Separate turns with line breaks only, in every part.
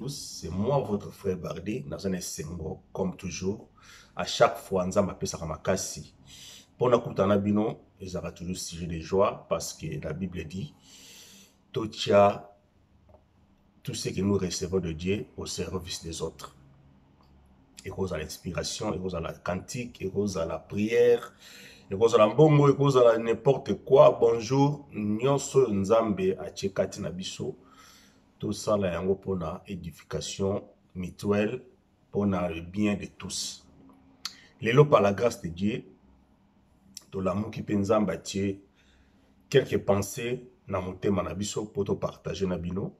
C'est moi votre frère Bardet, naza na esengo comme toujours. À chaque fois nzambe apesaka makasi. Pona kutana bino ezalaka toujours sujet de joie parce que la Bible dit totia tout ce que nous recevons de Dieu au service des autres. ekozala inspiration ekozala cantique ekozala prière ekozala mbongo ekozala n'importe quoi bonjour nyonso oyo nzambe atie kati na biso tosala yango mpo na edification mutuelle mpo na le bien de tous lelo par la grâce de dieu tolamuki mpe nzambe atie quelque pensé na motema na biso mpo topartage na bino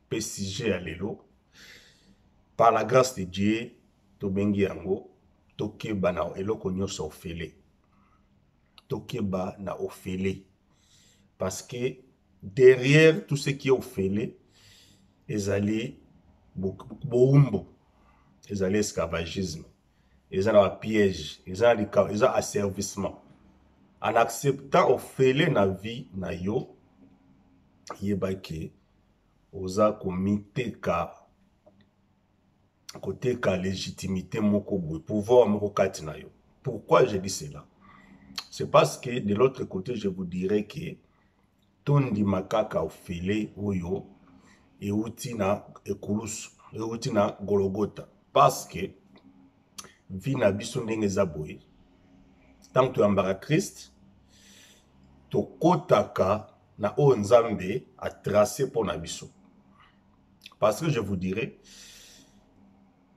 mpe sujet ya lelo par la grâce de dieu tobengi yango tokeba na eloko nyonso ofele tokeba na ofele parce que derrière tout ce qui est ofele ezali boumbo ezali esclavagisme eza na bapiège eza eza asservissement en acceptant ofele na vie na yo yeba ke oza komiteka koteka legitimité moko boye pouvoir moko kati na yo pourquoi je dis cela c'est parce que de l'autre côté je vous dirais que tondima kaka ofele oyo euti na ekulusu euti na gologota parce que vie na biso ndenge eza boye ntango toyambaka krist tokotaka na oyo nzambe atrace mpo na biso parce que je vous dirai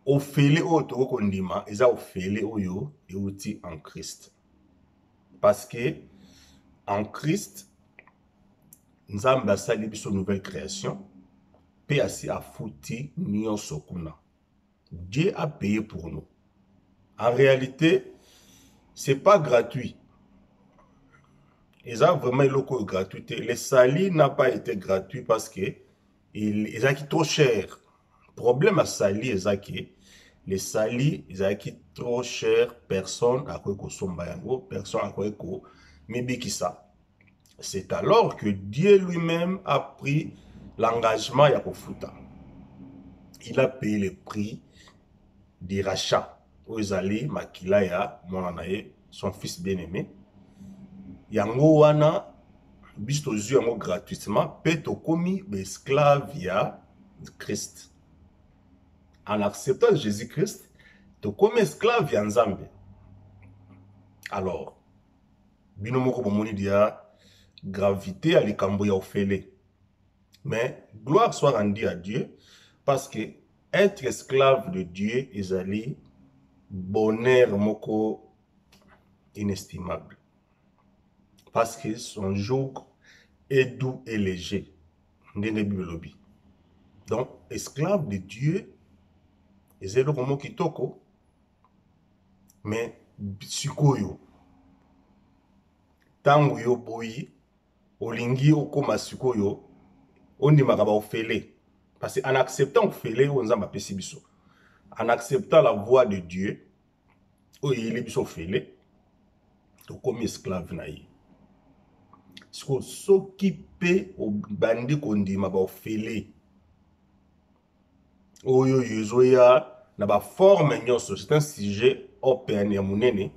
ofele oyo tokoki kondima eza ofele oyo euti en christ parce que en christ nzambe asali biso nouvelle création mpe asi afuti nyonso kuna Dieu a payé pour nous. En réalité, c'est pas gratuit. Eza vraiment eloko oyo gratuit te. Le sali n'a pas été gratuit parce que ezalaki trop cher. Problème ya sali eza ke le sali ezalaki trop cher, personne akoki kosomba yango, personne akoki komibikisa. c'est alors que Dieu lui-même a pris l'engagement ya kofuta. Il a payé le prix du rachat. Oyo ezali makila ya mwana na ye, son fils bien-aimé. Yango wana biso tozwi yango gratuitement mpe tokomi baesclave ya Christ. En acceptant Jésus-Christ, tokomi esclave ya Nzambe. Alors, bino moko bomoni dia gravité ya likambo ya ofele mais gloire soit rendue à dieu parce que être esclave de dieu ezali bonheur moko inestimable parce que son joug est doux et léger ndenge bible elobi donc esclave de dieu eza eloko moko kitoko mais sikoyo ntango yo boyi olingi okóma sikoyo ondimaka baofele parce en acceptant ofele oyo nzambe apesi biso en acceptant la voix de dieu oyo eyeli biso ofele tokomi esclave na ye sikoyo soki mpe obandi kondima baofele oyo yo ezoya na baforme nyonso c'est un sujet open ya monene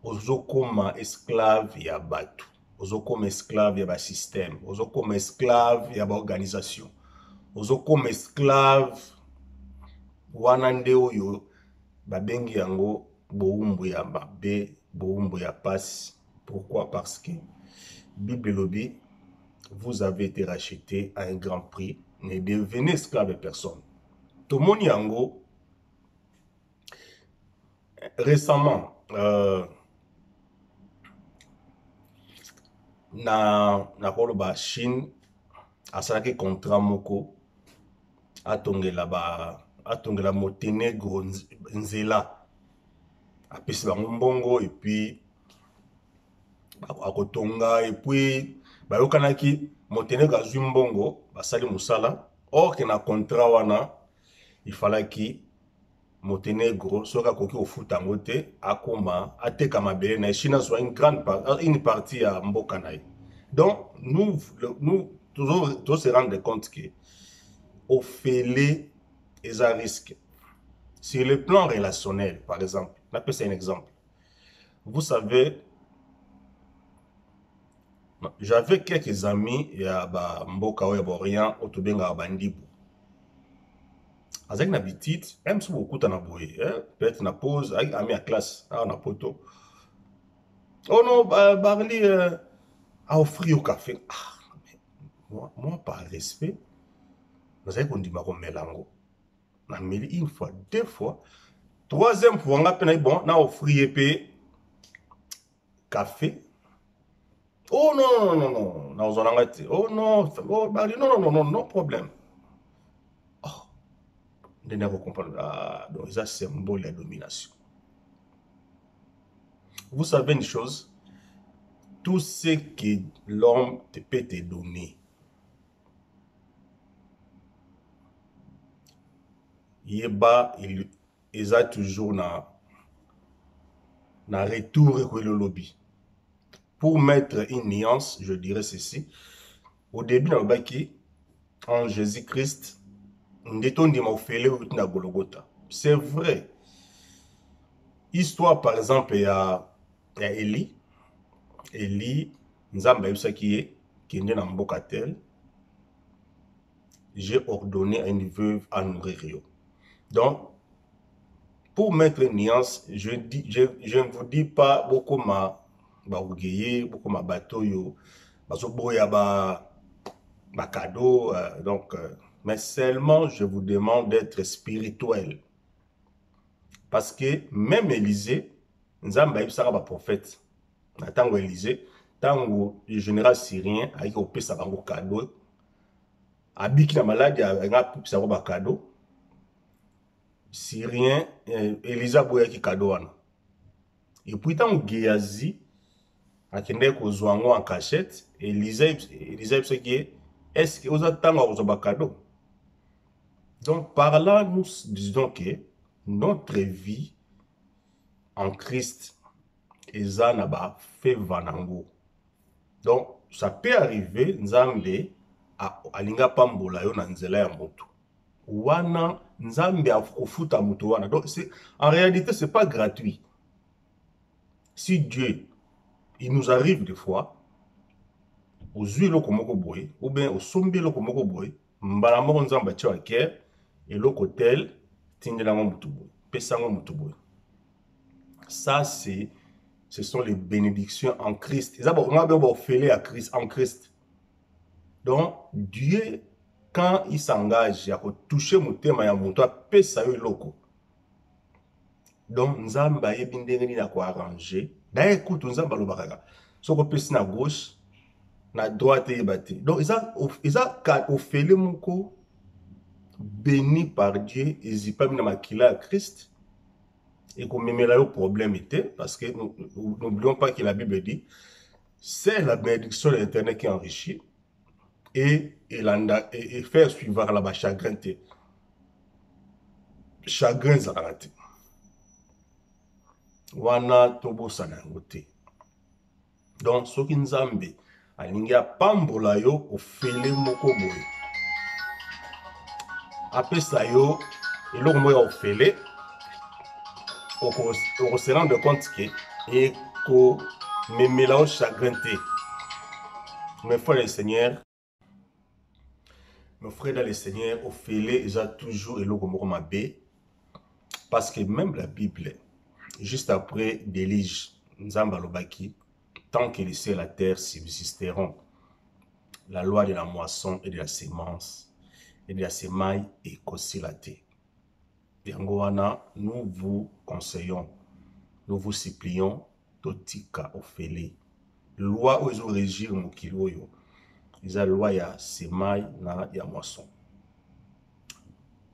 ozokoma esclave ya bato ozokoma esclave ya basystème ozokoma esclave ya baorganisation ozokoma esclave wana nde oyo babengi yango bowumbu ya mabe bowumbu ya mpasi Pourquoi? Parce que Bible elobi vous avez été racheté à un grand prix, ne devenez esclave à personne. Tomoni yango récemment euh, na nakoloba chine asalaki contrat moko atongela ba atongela montenegro nzela apesi bango mbongo epuis akotonga epuis bayokanaki moteneko azwi mbongo basali mosala orke na contrat wana ifalaki montenegro soki akoki kofuta yango te akoma ateka mabele na ye chine azwa une grande une partie ya mboka na ye donc nous, nous tozo se rendre compte que ofele eza risque sur le plan relationnel par exemple napesa un exemple vous savez j'avais quelques amis ya ba mboka oyo ya borient oyo tobengaka bandibu azalaki na bitite eme soki bokutana boye peut-être na pose ayaki ami ya classe awa na poto oh non barli euh, aoffri yo café ah, moi, moi par respect nazali kondima komela yango na meli une fois deux fois troisième fois nga mpe nayi bon na offrir ye mpe café oh non non non non nakozwa na ngai te oh non oh, bari non non non non problème oh nde nako comprendre ah, donc eza symbole ya domination vous savez une chose tout ce que l'homme peut te donner yeba eza toujours na na retour ekweli olobi pour mettre une nuance je dirais ceci au début nalobaki en jésus christ nde tondima ofele euti na gologota c'est vrai histoire par exemple ya ya eli eli nzambe ayebisaki ye kende na mboka tel j'ai ordonné à une veuve à nourrir yo donc pour mettre une nuance je, dis, je, je ne vous dis pas bokoma baogeye bokoma bato oyo bazoboya ba bakado euh, donc euh, mais seulement je vous demande d'être spirituel parce que même Élysée nzambe ayebisaka baprofete na ntango ya elise ntango le général syrien ayaki kopesa bango kado abiki na maladi alinga apesa yango bakado syrien eh, elise aboyaki kado wana epuis ntango geazi akendaki kozwa yango en cachette elise ayebisaki ye estce oza ntango ya kozwa bakado donc par là nous disons que notre vie en Christ eza na ba favor nango. Donc ça peut arriver Nzambe alinga pambola yo na nzela ya moto. Wana Nzambe akofuta moto wana. Donc c'est en réalité c'est pas gratuit. Si Dieu il nous arrive des fois ozwi eloko moko boye ou bien osombi eloko moko boye mbala moko nzambe atyo ake eloko tel tindela yango motu boye pesa yango motu boye ça c'est ce sont les bénédictions en christ eza bakonga bino baofele ya christ en christ donc dieu quand il s'engage ya kotouche motema ya moto apesa yo eloko donc nzambe ayebi ndenge nini akoarrange daye kutu nzambe alobaka kaka soki opesi na gauche na droite eyeba te donc eza, eza ofele moko beni par dieu ezipami na makila ya christ ekomemela yo problème te parce que n'oublions pas que la bible dit c'est la bénédiction de l'éternel qui enrichit et elanda faire suivaka na bachagrin te chagrin ezalaka te wana tobosana yango te donc soki nzambe alingi apambola yo ofele moko boye apesa yo eloko moko ya ofele oko se rendre compte que eko memela yo chagrin te mes frères le seigneur nos frères dans le seigneur ofele eza toujours eloko moko mabe parce que même la bible juste après délige nzambe alobaki tant que les cieux et la terre subsisteront la loi de la moisson et de la semence et de la semaille ekosila te Yango wana nous vous conseillons, nous vous supplions totika ofele. Loi oyo ezo regir mokili oyo eza loi ya semai na ya moisson.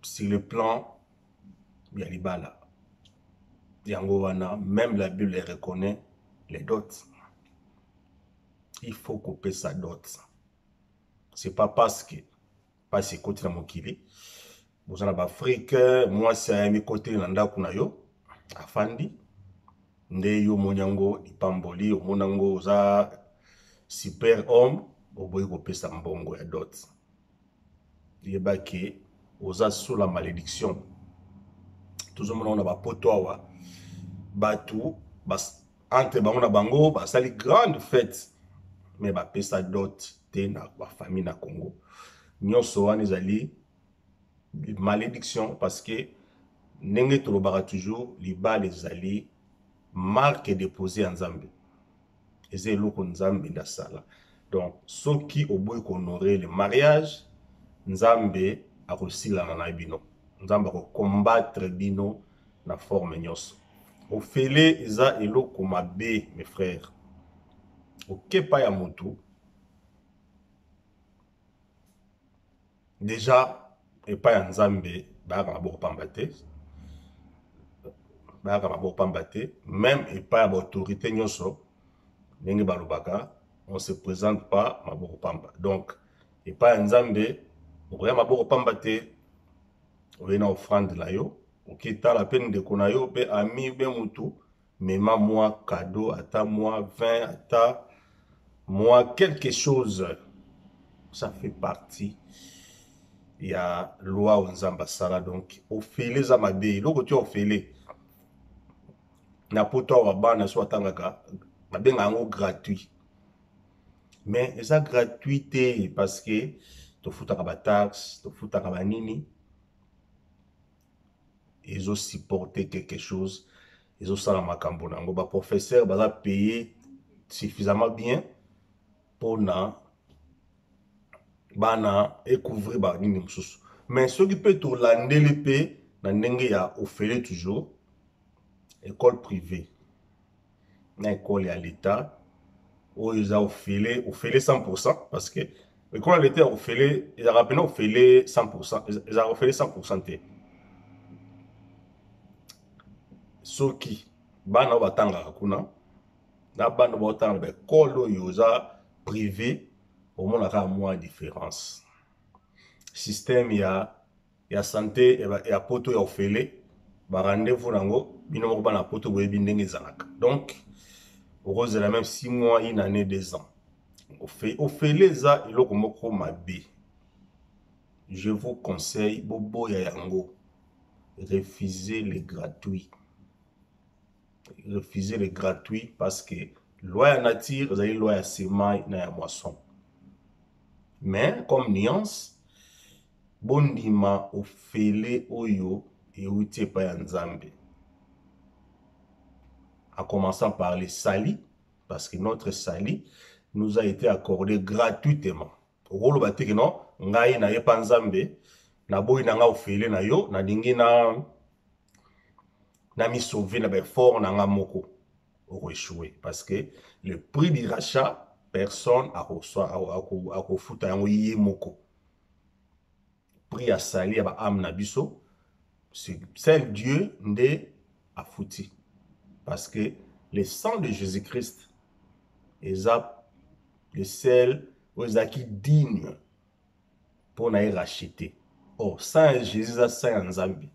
Sur le plan ya libala yango wana même la bible elle reconnaît les dots il faut kopesa dot c'est pas parce que mpasi ekoti na mokili boza na baafrike mwasi ayami koteli na ndako na yo afandi nde yo omoni yango lipamboli omona yango oza super homme oboyi kopesa mbongo ya dot yeba ke oza sur la malédiction tozomona ngo na bapoto awa bato entre bango na bango basali grande fete me bapesa dot te na bafamille na congo nyonso wana ezali malédiction parce que ndenge tolobaka toujours libala ezali marque dépose ya nzambe eza eloko nzambe nde asala donc soki oboyi kohonore le mariage nzambe akosilana na bino nzambe akokombatre bino na forme nyonso ofele eza eloko mabe mes frères okepa ya motu deja epai ya nzambe bayaka na boko pamba te bayaka na boko pamba te meme epai ya baautorité nyonso ndenge balobaka on se présente pas maboko pamba donc epai ya nzambe okoya maboko pamba te oye na offrande na yo okitala mpe ndeko na yo mpe ami mpe motu mema mwa cadeau ata mwa 20 ata mwa quelque chose ça fait partie ya loi oyo nzambe asala donc ofele eza mabe eloko ti ofele na poto awa bana so atangaka babenga yango gratuit mais eza gratuit te parce que tofutaka bataxe tofutaka banini ezo supporter quelque chose ezosala makambo na yango baprofesseur baza paye suffisamment bien mpona bana ekouvrir banini mosusu mais soki mpe tolandeli mpe na ndenge ya ofele toujours école privée na ekole ya leta oyo eza ofele ofele 100 parce que ekole ya leta ya ofele ezalaka mpena ofele 100 ezalaka ofele 100 te soki bana oyo batangaka kuna na bana baotanga na baekole oyo oza privé omonaka mwa différence système ya ya sante ya poto ya ofele ba rendez-vous nango bino moko bana poto boyebi ndenge ezalaka donc okozela meme 6 mois une année deux ans ofele eza eloko moko mabe je vous conseille boboya yango refuser le gratuit refuser le gratuit parce que loi ya nature ezali loi ya semai na ya moisson mais comme nuance Bondima ofele oyo ewuti epai ya Nzambe. En commençant par le salut, parce que notre salut nous a été accordé gratuitement. Okoloba te que non, ngai na yepa Nzambe, na boyi na nga ofele na yo, na lingi na na mi sauver na ba effort na nga moko. Oko échouer parce que le prix du rachat personne akofuta yango ye moko. prix ya sali ya ba ame na biso seul dieu nde afuti parce que le sang de jésus christ eza le sel oyo ezalaki digne mpo na ye rachete or sang ya jésus eza sang ya nzambe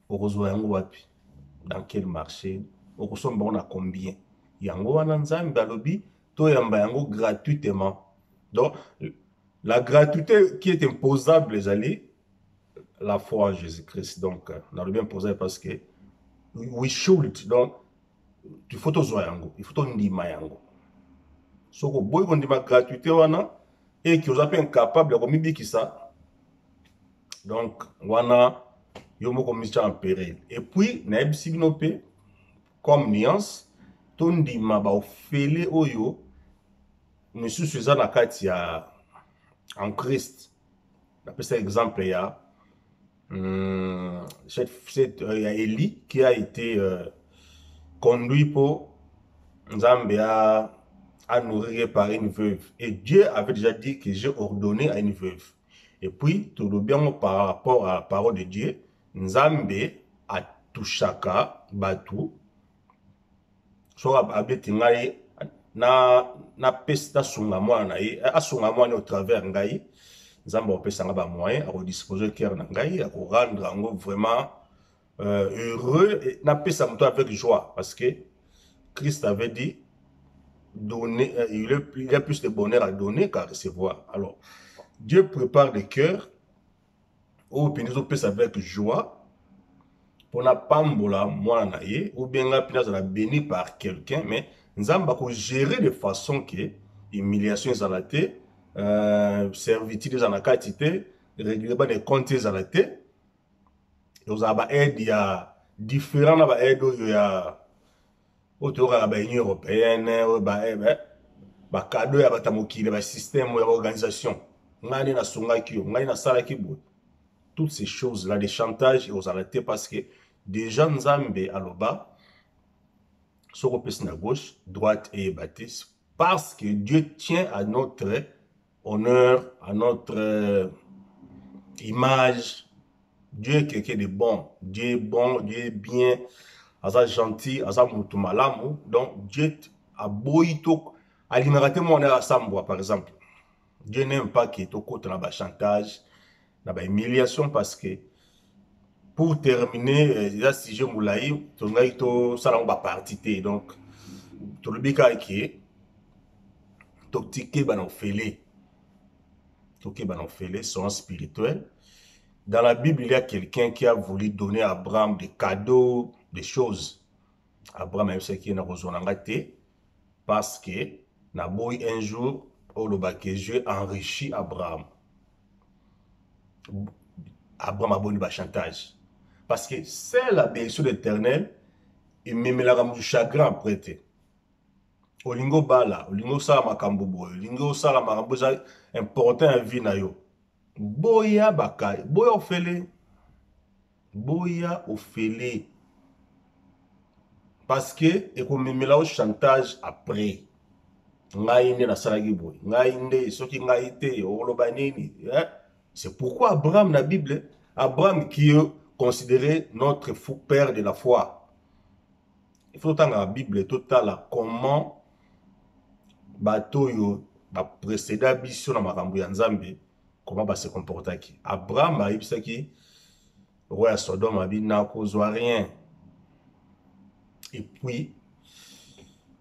okozwa yango wapi dans quel marché okosomba yango na combien yango wana nzambe alobi toyamba yango gratuitement donc la gratuité qui est imposable ezali la foi en jésus christ donc euh, nalobi imposable parce que we should donc il faut tozwa yango il faut tondima yango soki oboyi kondima gratuité wana eki oza mpe incapable ya komibikisa donc wana yo moko omitya en peril et puis nayebisi bino mpe comme nuance tondima baofele oyo misusu eza na kati ya en christ napesa exemple ya hum, cette, cette, euh, ya eli qui a été euh, conduit mpo nzambe a, a nourrir par une veuve et dieu avait déjà dit que j'ai ordonné à une veuve Et puis, tout le bien par rapport à la parole de Dieu, Nzambe a touchaka batu. So abeti ngai na na pesi na sunga mwana na ye asunga mwana au travers ngai nzambe akopesa ngai bamoyen akodisposer cœur na ngai akorendre yango vraiment euh, heureux et na pesa moto avec joie parce que Christ avait dit donner euh, il, est, il y a plus de bonheur à donner qu'à recevoir alors Dieu prépare des cœurs oyo mpenza ezopesa avec joie mpo napambola mwana na ye ou bien ngai mpenza azala béni par quelqu'un mais nzambe akogere de façon ke humiliation ezala te euh, servitude eza na kati te règlement de compte ezala te ekozala ba aide ya différent na ba aide oyo ya oyo toyokaka ba union européenne oyo ba eh, eh, bakado ya bato ya mokili basystème ya baorganisation ngai nde nasungaki yo ngai nasalaki boye toutes ces choses là de chantage ekozala te parce que déjà nzambe aloba soki opesi na gauche droite eyeba te parce que dieu tient à notre Honneur à notre euh, image. Dieu est quelqu'un de bon. Dieu est bon, Dieu est bien. Aza gentil, aza mutu malamu. Donc Dieu a boyi to alingaka te mwana ya sambwa par exemple. Dieu n'aime pas que tokota na ba chantage. na ba humiliation parce que pour terminer euh, eza sujet molai tolingaki tosala yango baparti te donc tolobi kaka ke tokeba na ofele tokeba na ofele son spirituel dans la bible il y a quelqu'un qui a voulu donner à abraham des cadeaux des choses abraham ayebisaki ye nakozwa na ngai te parce que naboyi un jour oloba que je enrichi abraham abraham aboni bachantage parce que c'est la bénédiction de l'éternel ememelaka moto chagrin après te olingi obala olingi osala makambo boye olingi osala makambo eza important ya vie na yo boya bakali boya ofele boya ofele parce que ekomemela o chantage après ngai nde nasalaki boye ngai nde soki ngai te oloba nini eh? c'est pourquoi abraham na bible abraham qui est considéré notre fou père de la foi il faut totangaka bible totala comment bato oyo bapreceda biso na makambo ya nzambe comment ba se comportaki abraham ayebisaki roi ya sodome abi nakozwa rien epuis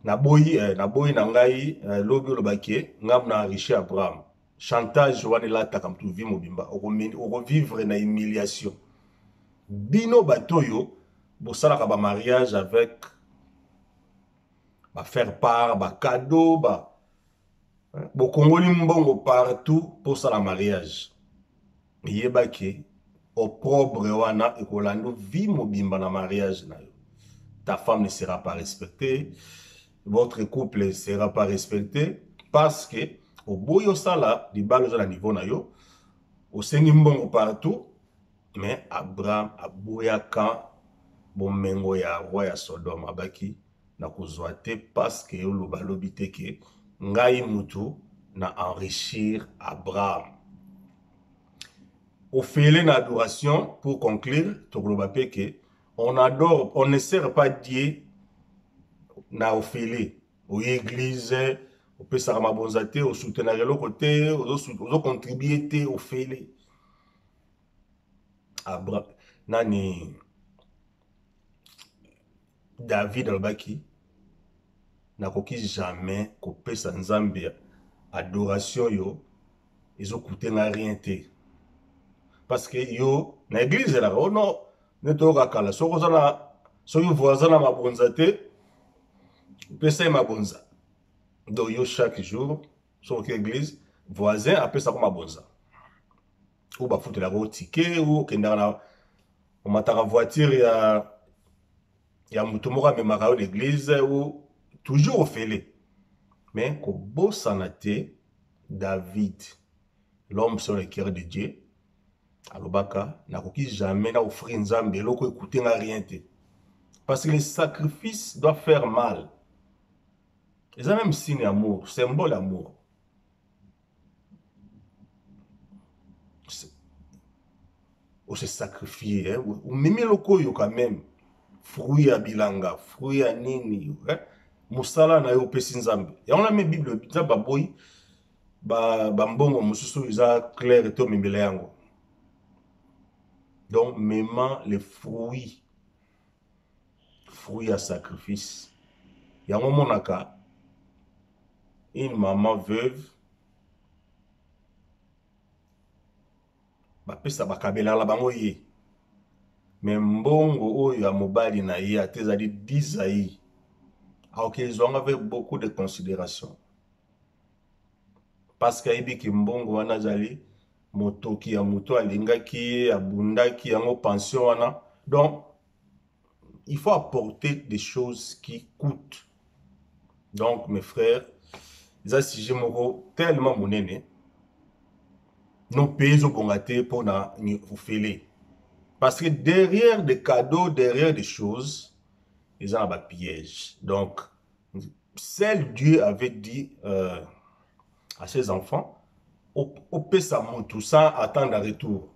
naboyi eh, naboyi na ngai eh, lobi olobaki ngambo na enrichi abraham chantage wana elataka motu vi mobimba okovivre na humiliation bino bato oyo bosalaka bamariage avec bafaire part bacadeau ba, ba bokongoli mbongo partout mposala mariage yeba ke opprobre wana ekolanda vie mobimba na mariage na yo ta femme ne sera pas respectée votre couple ne sera pas respecté parce que oboyi osala libala oza na niveau na yo osengi mbongo partout mais abraham aboyaka bomengo ya roi ya sodome abaki nakozwa te paske oloba lobi te ke ngai mutu na enrichir abraham ofele na adoration pour conclure tokoloba pe ke on adore on ne sert pas dieu na ofele oye eglise opesaka mabonza te osutenaka eloko te ozocontribue te ofele abra nani David alobaki nakoki jamais kopesa Nzambe adoration yo ezokute nga rien te parce que yo na église elaka o oh non nde toyoka kala soki oza na soki voisin na mabonza te pesa ye mabonza donc yo chaque jour soki oke église voisin apesako mabonza oyo bafutelaka o tike oyo okendaka na omataka voiture ya ya moto moko amemaka yo na eglize o toujours ofele me kobosana te david l'homme sur le cœur de dieu alobaka nakoki jamais na ofrir nzambe eloko ekute nga rien te parce que le sacrifice doit faire mal eza même signe amour symbole amour On s'est sacrifié, hein? Mimi Lokoyo quand même. Fruit à bilanga, fruit à nini, hein? Moussala na yo pesi nzambe. Ya on a mis Bible, nzambe aboyi, ba, ba mbongo mosusu eza clair eto memela yango. Donc, mema les fruits fruit ya sacrifice yango omonaka une maman veuve bapesa bakabelala bango ye me mbongo oyo ya mobali na ye ata ezali dizai aokezwanga avec beaucoup de considération paske ayebi ke mbongo wana azali motoki ya moto alingaki ye abundaki yango pension wana donc il faut apporter des choses qui coûtent donc mes frères eza sujet moko tellement monene nos pays ezobonga te mpo na ofele parce que derrière des cadeaux derrière des choses eza na bapiège donc Seul Dieu avait dit euh, à ses enfants, opesa mutu sans attendre retour.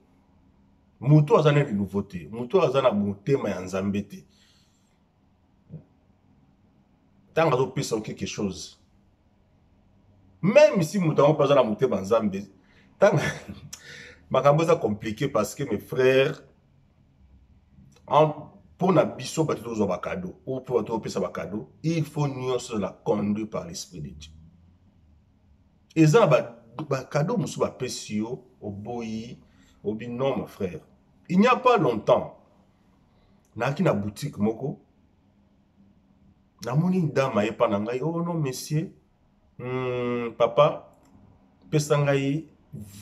Mutu aza na nouveau te, mutu aza na motema ya Nzambe te. Tant azopesa quelque chose. Même si mutu yango aza na motema ya Nzambe, tant makambo eza compliqué parce que mes frères mpo na biso bato tozwa bakado ou mpo bato opesa bakado il faut nyonso ezala conduit par l'esprit de dieu eza na bakado mosusu bapesi yo oboyi obi non mon frère il n'y a pas longtemps nayaki na boutique moko namoni dame ayepa na ngai oh non monsieur hmm, papa pesa ngai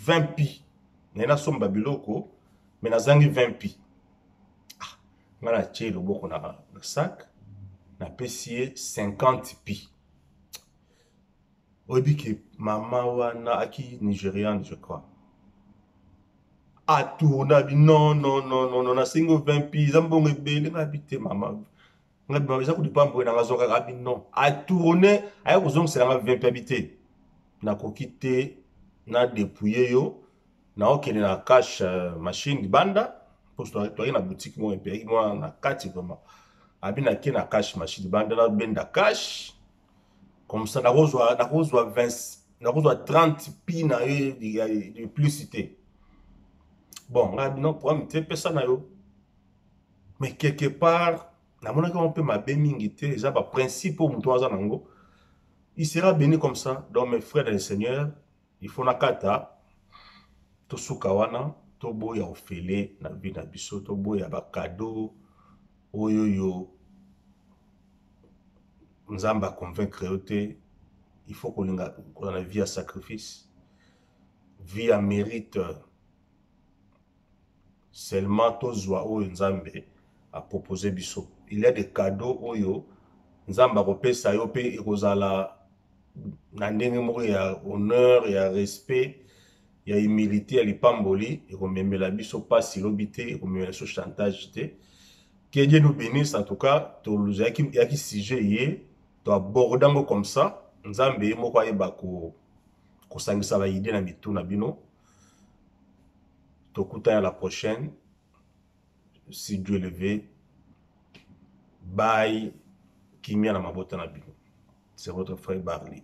20 pi naye nasomba biloko me nazangi 20 pi ah, ngai natye loboko na, na sak napesi ye 50 pi oyebi ke mama wana aki nigeriane je crois atourna bi non non non non non nasengi 20 pi eza mbongo ebele nabi te mama ngai eza kutu pamboye nanga azwakaka abi non atourne aya kozongisela nga vimpe abi te nakoki te na depouille yo naokende na cash euh, machine libanda mpo toyaki na boutique moko epeyaki mwa na kati vraiment abi nake na cash machine libanda nabenda cash comme ça nakozwa nakozwa 20 nakozwa 30 pi na yo ya plus te bon ngai abi non problème te pesa na yo mais quelque part namonaki yango mpe mabe mingi te eza baprincipe oyo moto aza na yango il sera béni comme ça donc mes frères le seigneur il faut nakata tosuka wana toboya ofele na vie na biso toboya bakado oyo yo nzambe aconvaincre yo te il faut kolinga kozala vie ya sacrifice vie ya mérite Seulement tozua oyo Nzambe a proposer biso. Il y a des cadeaux oyo Nzambe akopesa yo pe ekozala na ndenge moko ya honneur, ya respect, ya humilité, ya lipamboli ekomemela biso pasi lobi te, ekomemela biso chantage te. Que Dieu nous bénisse en tout cas, tozalaki yaki sujet ye, to aborda ngo comme ça, Nzambe ye moko ayeba ko kosangisa ba idée na mitu na bino. Tokuta ya la prochaine. Si Dieu le veut. Bye. Kimia na mabota na bino. C'est votre frère Barley.